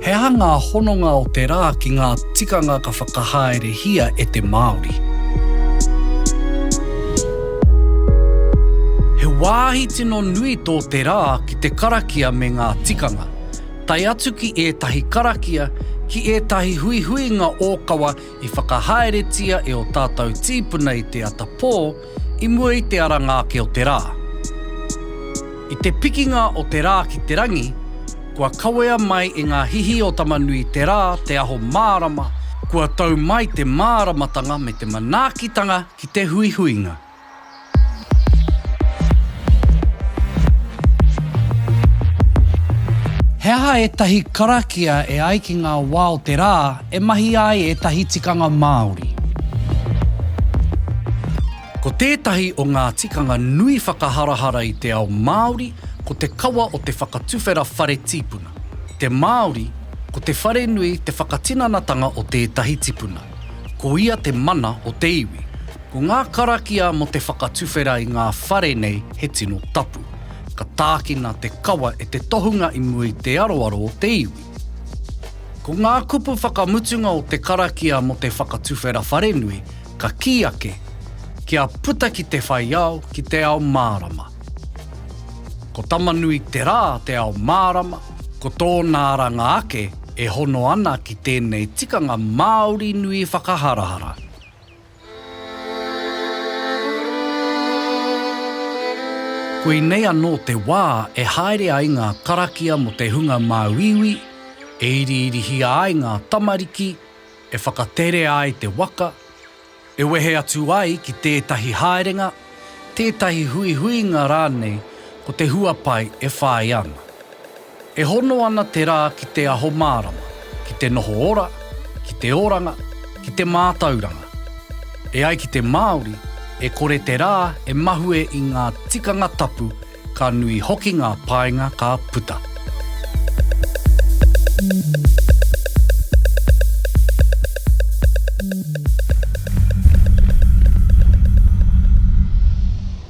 He aha ngā hononga o te rā ki ngā tikanga ka whakahaerehia e te Māori? He wāhi tino nui tō te rā ki te karakia me ngā tikanga. tae atu ki ētahi karakia, ki ētahi huihuinga ōkawa i whakahaeretia e ō tātou tīpuna i te ata pō i mua i te aranga ake o te rā. I te pikinga o te rā ki te rangi, kua kawea mai e ngā hihi o Tamanui te rā, te aho mārama, kua tau mai te māramatanga me te manaakitanga ki te huihuinga. He aha ētahi karakia e ai ki ngā wā o te rā e mahia ai ētahi tikanga Māori? Ko tētahi o ngā tikanga nui whakaharahara i te ao Māori ko te kawa o te whakatuwhera whare tīpuna. Te Māori, ko te wharenui te whakatinanatanga o tētahi tipuna. Ko ia te mana o te iwi. Ko ngā karakia mō te whakatuwhera i ngā whare nei he tino tapu. Ka tākina te kawa e te tohunga i mua i te aroaro o te iwi. Ko ngā kupu whakamutunga o te karakia mō te whakatuwhera wharenui ka kī ake, Kia puta ki te whai ao, ki te ao mārama. Ko Tama-nui-te-rā te ao mārama, ko tōna aranga ake e hono ana ki tēnei tikanga Māori nui whakaharahara. Koinei anō te wā e haere ai ngā karakia mō te hunga māuiui, e iriirihia ai ngā tamariki, e whakaterea ai te waka, e wehe atu ai ki tētahi haerenga, tētahi huihuinga rānei ko te huapai e whāia ana. E hono ana te rā ki te aho mārama, ki te noho ora, ki te oranga, ki te mātauranga. E ai ki te Māori, e kore te rā e mahue i ngā tikanga tapu, ka nui hoki ngā painga ka puta.